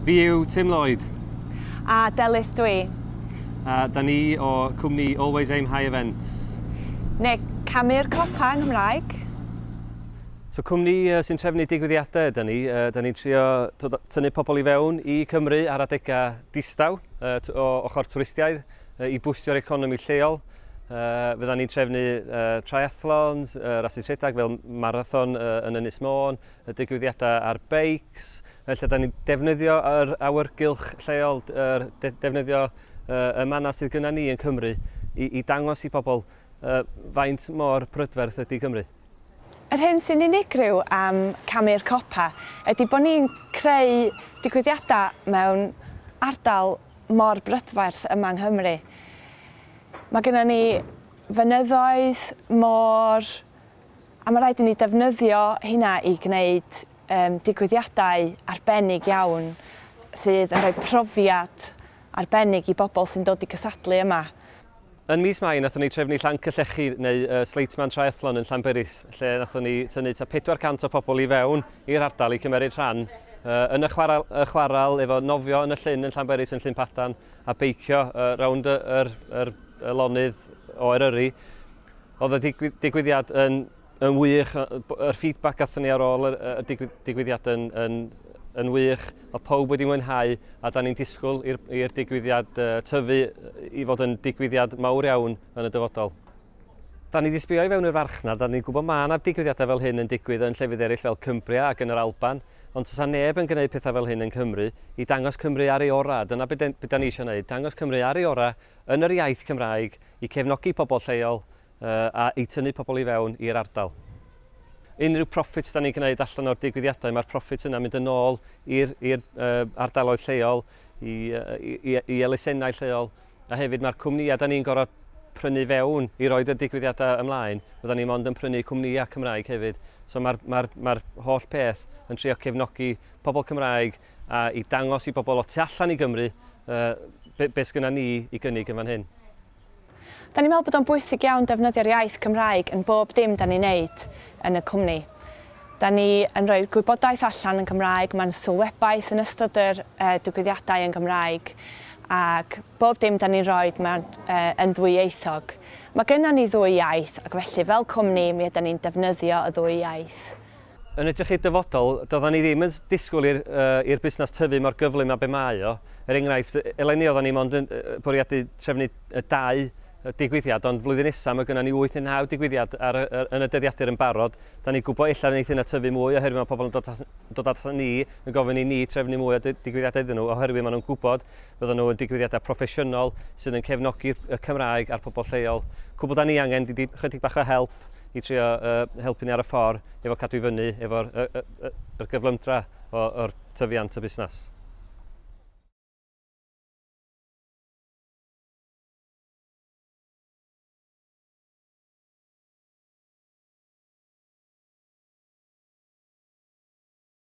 Fi yw Tim Lloyd. A Delyth dwi. A da ni o cwmni Always Aim High Events. Neu Camu'r Copa yng Nghymraeg. So cwmni sy'n trefnu digwyddiadau ydy ni. Da ni'n trio tynnu pobl i fewn i Cymru ar adegau distaw o ochr twristiaid i bwstio'r economi lleol. Uh, fydda ni'n trefnu uh, triathlons, uh, rasus rhedeg fel marathon uh, yn Ynys Môn, y digwyddiadau ar beics, felly da ni'n defnyddio yr awyrgylch lleol, yr, de, defnyddio uh, y mannau sydd gyda ni yn Cymru i, i dangos i bobl uh, faint mor prydferth ydy Cymru. Yr hyn sy'n unigryw am Camu'r Copa ydy bod ni'n creu digwyddiadau mewn ardal mor brydferth yma yng Nghymru. Mae gennym ni fynyddoedd, môr, A mae rhaid i ni ddefnyddio hynna i gwneud um, digwyddiadau arbennig iawn sydd yn rhoi profiad arbennig i bobl sy'n dod i gysadlu yma. Yn mis Mai, nathon ni trefnu Llanc y Llechi neu uh, Sleitman Triathlon yn Llanberis, lle nathon ni tynnu ta 400 o pobl i fewn i'r ardal i cymeryd rhan uh, yn y chwaral, y chwaral efo nofio yn y llyn yn Llanberis yn Llyn Padan a beicio uh, rownd yr, yr, yr lonydd o Eryri Oedd y digwy- digwyddiad yn, yn wych, y, b- yr feedback gathon ni ar ôl y, y digwy- digwyddiad yn, yn, yn wych. Oedd pawb wedi mwynhau a da ni'n disgwyl i'r, i'r digwyddiad uh, tyfu i fod yn digwyddiad mawr iawn yn y dyfodol. Da ni wedi sbio i fewn i'r farchnad, da ni'n gwybod mae yna digwyddiadau fel hyn yn digwydd yn llefydd eraill fel Cumbria ac yn yr Alban, ond does yna neb yn gwneud pethau fel hyn yn Cymru, i dangos Cymru ar ei orau, dyna beth da ni eisiau gwneud, dangos Cymru ar ei orau yn yr iaith Cymraeg i cefnogi pobl lleol a i tynnu pobl i fewn i'r ardal. Unrhyw profit da ni'n gwneud allan o'r digwyddiadau, mae'r profit yna mynd yn ôl i'r ardaloedd lleol, i, i, i elusennau lleol, a hefyd mae'r cwmnïau da ni'n gorfod prynu fewn i roed y digwyddiadau ymlaen, fydda ni mond yn prynu cwmnïau Cymraeg hefyd. So mae'r, mae'r, mae'r holl peth yn trio cefnogi pobl Cymraeg a i dangos i bobl o tu allan i Gymru yy be sgynna ni i gynnig yn fan hyn. Da ni'n meddwl bod o'n bwysig iawn defnyddio'r iaith Gymraeg yn bob dim da ni'n neud yn y cwmni. Da ni yn rhoi'r gwybodaeth allan yn Gymraeg, mae'n sylwebaeth yn ystod yr yy digwyddiadau yn Gymraeg ac bob dim da ni'n rhoid mae'n yy yn ddwyieithog. Mae gynna ni ddwy iaith ac felly fel cwmni mi ydan ni'n defnyddio y ddwy iaith. Yn edrych i'r dyfodol, doeddan ni ddim yn disgwyl i'r i'r busnes tyfu mor gyflym â be mae o. Er enghraifft, eleni oeddan ni mond yn bwriadu trefnu dau digwyddiad, ond flwyddyn nesa mae gynnon ni wyth neu naw digwyddiad ar y yn y dyddiadur yn barod. Dan ni'n gwybod ella neith hynna tyfu mwy oherwydd mae pobl yn dod dod aton ni yn gofyn i ni trefnu mwy o digwyddiadau iddyn nhw oherwydd maen nhw'n gwybod fyddan nhw yn digwyddiadau proffesiynol sydd yn cefnogi y Cymraeg a'r pobl lleol. Cwbl dan ni angen ydi chydig bach o help i trio uh, helpu ni ar y ffordd efo cadw i fyny efo'r y, y, y, y gyflymdra o'r tyfiant y busnes.